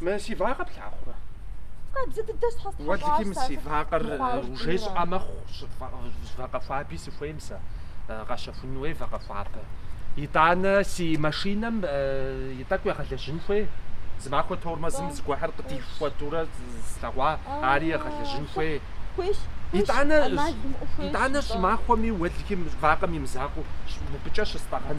Мы си вакъэ плъагъурэ? Къабзэ дыдэ щхьэстхьэщӏащ. Уэлдыким си вакъэр ужесӏуа мэхъу, вакъэ хуаби сыхуейм сэ, къэсщэхун хуей вакъэ хуабэ. Итӏанэ си машинэм и тӏэкӏу егъэлэжьын хуей? Зы махуэ тормозым зыгуэрхэр къытихуэтурэ слъэгъуа, ари егъэлэжьын хуей? Хуейщ. Итӏанэ, итӏанэ щӏымахуэми уэлдыким вакъэм имызакъуэу мыбыкӏэ щыстӏэгъэн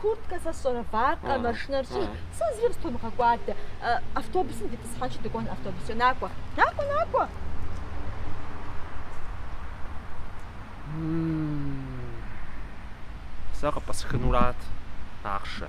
Курткэ сэ сщӏэрэ, вакъэ, машинэр сщӏыр, сэ зыри къыстомыгъэкӏуадэ. Автобусым дитӏысхьэнщи, дыкӏуэн автобусчӏэ. Накӏуэ, накӏуэ, накӏуэ! Сэ къыпӏысхынурат ахъшэ.